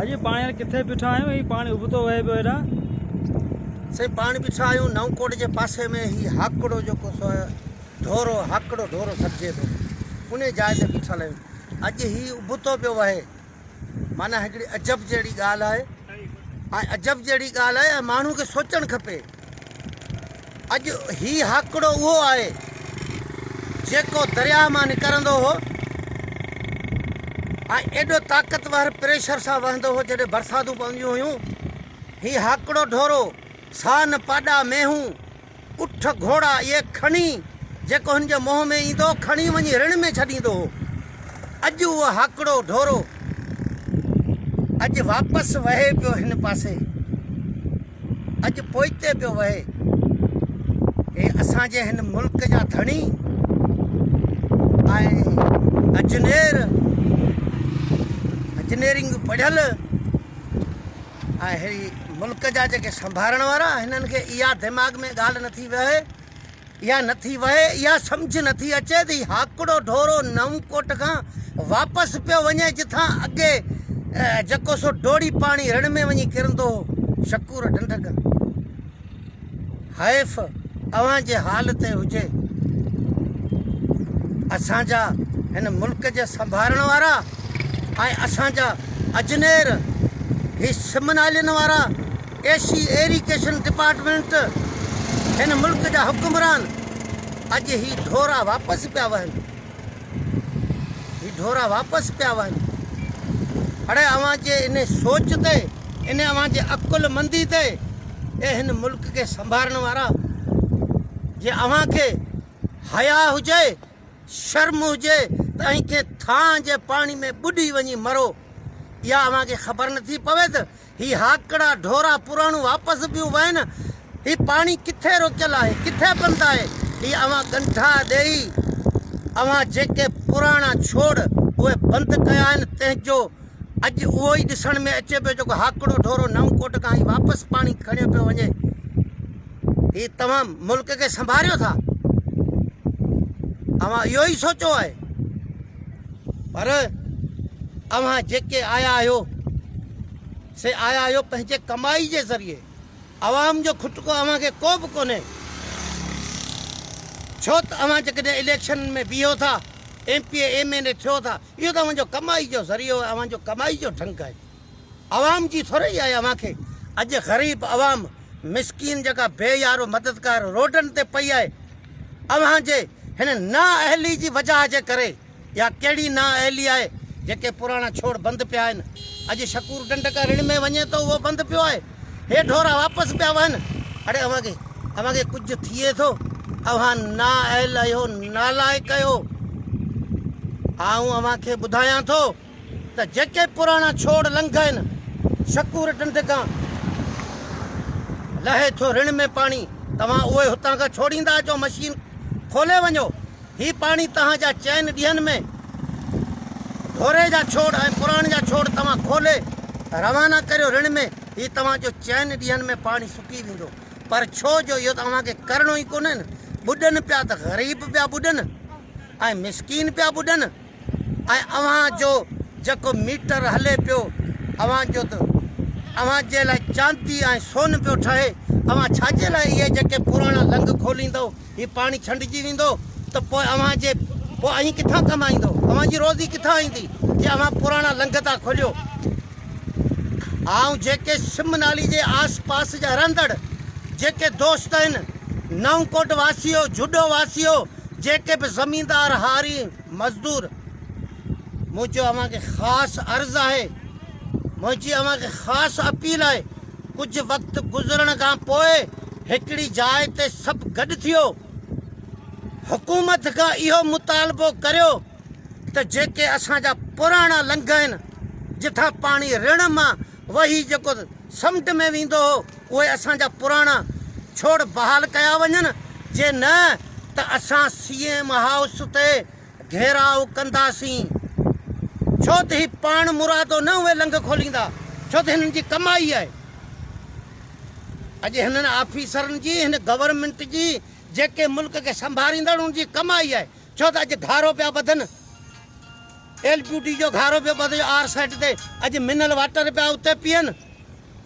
اڄ پاڻ هينئر ڪٿي بيٺا آهيون هي پاڻي ابتو وهي پيو هيڏان سائين پاڻ بيٺا آهيون نئون ڪوٽ جي پاسي ۾ هي هاڪڙو جيڪو سو ڍورو هاڪڙو ڍورو سڏجي ٿو ان جاء تي بيٺل آهيون اڄ هي ابتو پيو وهي معنيٰ هڪڙي عجب جهڙي ڳالهه آهي ۽ عجب جهڙي ڳالهه آهي ۽ ماڻهو کي سوچڻ کپي اڄ هي هاڪڙو اهو آهي، جيڪو درياء مان نڪرندو هو ۽ ايڏو طاقتور پريشر سان وهندو هو، جڏهن برساتون پونديون هيون، هي هاڪڙو ڍورو، سان، پاڏا، مينهون، اٺ، گهوڙا اهي کڻي، جيڪو هن جي منهن ۾ ايندو هو کڻي وڃي رڻ ۾ ڇڏيندو هو. اڄ اهو هاڪڙو ڍورو اڄ واپس وهي پيو هن پاسي. اڄ پوئتي پيو وهي. هي اسان جي هن ملڪ جا ڌڻي ۽ اجنير اجنيرنگ پڙهيل ۽ هي ملڪ جا جيڪي سنڀارڻ وارا هنن کي اها دماغ ۾ ڳالهه نٿي وهي اها نه ٿي وهي، اها سمجهه نه ٿي اچي ته هي هاڪڙو ڍورو نئونڪوٽ کان واپس پيو وڃي جتان اڳي جڪو سو ڊوڙي پاڻي رڻ ۾ وڃي ڪرندو هو. شڪور ڍنڍڪ حيف اوهان جي حال تي هجي. اسان جا هن ملڪ جي سنڀارڻ وارا ۽ اسان جا اجنير هي سم نالين وارا اي سي ايريگيشن ڊپارٽمينٽ، هن ملڪ جا حڪمران اڄ هي ڍورا واپس پيا وهن، هي ڍورا واپس پيا وهن، اڙي اوهان جي ان سوچ تي، ان اوهان جي عقل مندي تي، اي هن ملڪ کي سنڀارڻ وارا، جي اوهان کي حياء هجي، شرم هجي ته ائين ڪنهن ٿانء جي پاڻي ۾ ٻڏي وڃي مرو، اها اوهان کي خبر نٿي پوي ته هي هاڪڙا ڍورا پراڻون واپس پيون وهن. هي پاڻي ڪٿي روڪيل آهي، ڪٿي بند آهي. هي اوهان ڳنڍا ڏيئي، اوهان جيڪي پراڻا ڇوڙ اهي بند ڪيا آهن، تنهن جو اڄ اهو ئي ڏسڻ ۾ اچي پيو جيڪو هاڪڙو ڍورو نئون ڪوٽ کان هي واپس پاڻي کڻيو پيو وڃي. هي توهان ملڪ کي سنڀاريو ٿا؟ اوهان اهو ئي سوچو آهي؟ پر اوهان جيڪي آيا آهيو سي آيا آهيو پنهنجي ڪمائي جي ذريعي عوام جو کٽڪو اوهان کي ڪو به ڪونهي ڇو ته اوهان جيڪڏهن اليڪشن ۾ بيهو ٿا M P A M N A ٿيو ٿا اهو ته اوهان جو ڪمائي جو ذريعو اوهان جو ڪمائي جو ڍنگ آهي عوام جي ٿورئي آهي اوهان کي اڄ غريب عوام مسڪين جيڪا بي يارو مددگار روڊن تي پئي آهي اوهان جي هن نا اهلي جي وجهه جي ڪري اها ڪهڙي نا اهلي آهي جيڪي پراڻا ڇوڙ بند پيا آهن اڄ شڪور ڊنڊ ڪا رڻ ۾ وڃي ٿو اهو بند پيو آهي هي ڍورا واپس پيا وهن اڙي اوهان کي اوهان کي ڪجهه ٿئي ٿو اوهان نا اهل آهيو نالائق آهيو آئون اوهان کي ٻڌايان ٿو ته جيڪي پراڻا ڇوڙ لنگهين، شڪور ڍنڍ کان لهي ٿو رڻ ۾ پاڻي، توهان اهي هتان کان ڇوڙيندا اچو، مشين کولي وڃو، هي پاڻي تهان جا چئن ڏينهن ۾ ڍوري جا ڇوڙ ۽ پراڻ جا ڇوڙ توهان کولي روانا ڪريو رڻ ۾، هي توهان جو چئن ڏينهن ۾ پاڻي سڪي ويندو، پر ڇو جو اهو ته اوهان کي ڪرڻو ئي ڪونهين، ٻڏن پيا ته غريب پيا ٻڏن ۽ مسڪين پيا ٻڏن. ۽ اوهان جو جيڪو ميٽر هلي پيو اوهان جو ته اوهان جي لاء چاندي ۽ سون پيو ٺهي، اوهان ڇا جي لاء اهي جيڪي پراڻا لنگ کوليندؤ، هي پاڻي ڇنڊجي ويندو ته پوء اوهان جي پوء اهين ڪٿان ڪمائيندؤ، اوهان جي روزي ڪٿان ايندي جي اوهان پراڻا لنگ ٿا کوليو. آئون جيڪي سم نالي جي آس پاس جا رهندڙ جيڪي دوست آهن، نئون ڪوٽ واسيو، جهڏو واسيو، جيڪي به زميندار هارين، مزدور منهنجو اوهان کي خاص عرض آهي منهنجي اوهان کي خاص اپيل آهي ڪجهه وقت گذرڻ کان پوء هڪڙي جاء تي سڀ گڏ ٿيو حڪومت کان اهو مطالبو ڪريو ته جيڪي اسان جا پراڻا لنگهه آهن جتان پاڻي رڻ مان وهي جيڪو سمنڊ ۾ ويندو هو اهي اسان جا پراڻا ڇوڙ بحال ڪيا وڃن، جي نه ته اسان سي ايم هائوس تي گهيراء ڪنداسين، ڇو ته هي پاڻ مرادو نه اهي لنگهه کوليندا، ڇو ته هنن جي ڪمائي آهي. اڄ هنن آفيسرن جي، هن گورنمينٽ جي، جيڪي ملڪ کي سنڀاريندڙ انهن جي ڪمائي آهي، ڇو ته اڄ گهارو پيا ٻڌن، ايل پيو ڊي جو گهارو پيو ٻڌجي آر سيٽ تي، اڄ منرل واٽر پيا اتي پيئن.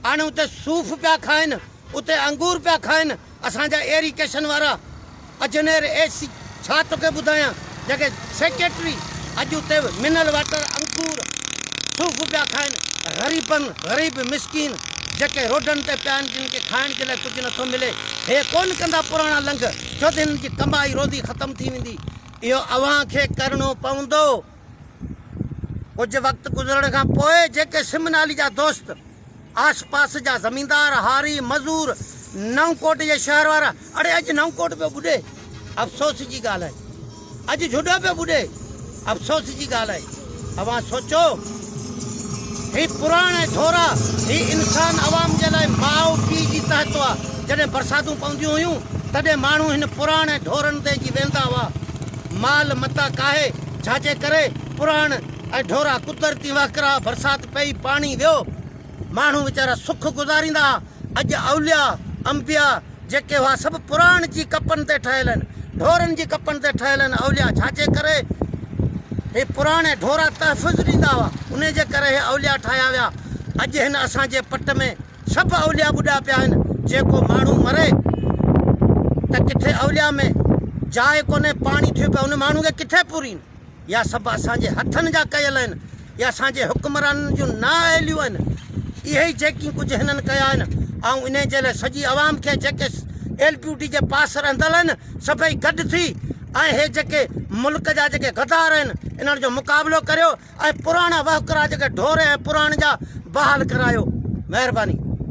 هاڻي اتي صوف پيا کائن، اتي انگور پيا کائن، اسان جا ايريڪيشن وارا اجنير اي سي ڇا توکي ٻڌايان جيڪي سيڪريٽري اڄ اتي منرل واٽر انگور صوف پيا کائن غريبن غريب مسڪين جيڪي روڊن تي پيا آهن جن کي کائڻ جي لاء ڪجهه نٿو ملي هي ڪون ڪندا پراڻا لنگ ڇو ته هنن جي ڪمائي روزي ختم ٿي ويندي اهو اوهان کي ڪرڻو پوندو. ڪجهه وقت گذرڻ کان پوء جيڪي سمن علي جا دوست، آس پاس جا زميندار، هاري، مزور، نئون ڪوٽ جي شهر وارا، اڙي اڄ نئون ڪوٽ پيو ٻڏي، افسوس جي ڳالهه آهي. اڄ جهڏو پيو ٻڏي، افسوس جي ڳالهه آهي. اوهان سوچو، هي پراڻ ۽ ٿورا، هي انسان عوام جي لاء ماء پيء جي تحت هئا. جڏهن برساتون پونديون هيون، تڏهن ماڻهو هن پراڻ ۽ ڍورن تي اچي ويهندا هئا. مال متاع ڪاهي. جھاجي ڪري پراڻ ۽ ڍورا قدرتي وهڪرا برسات پئي پاڻي ويو ماڻهو ويچارا سک گذاريندا اڄ اوليا انبيا جيڪي هئا سڀ پراڻ جي ڪپن تي ٺهيل آهن ڍورن جي ڪپن تي ٺهيل آهن اوليا جھاجي ڪري هي پراڻ ۽ ڍورا تحفظ ڏيندا هئا انهي جي ڪري هي اوليا ٺاهيا ويا اڄ هن اسان جي پٽ ۾ سڀ اولياء ٻڏا پيا آهن جيڪو ماڻهو مري ته ڪٿي اولياء ۾ جاء ڪونهي پاڻي ٿيو پيو ان ماڻهو کي ڪٿي پورين يا سڀ اسان جي هٿن جا ڪيل آهن يا اسان جي حڪمرانن جون نا اهليون آهن اهي ئي جيڪي ڪجهه هنن ڪيا آهن آئون انهي جي لاء سڄي عوام کي جيڪي ايل پيو ڊي جي پاس رهندل آهن سڀئي گڏ ٿي ۽ هي جيڪي ملڪ جا جيڪي غدار آهن انهن جو مقابلو ڪريو. ۽ پراڻا وهڪرا جيڪي ڍور ۽ پراڻ جا بحال ڪرايو مهرباني.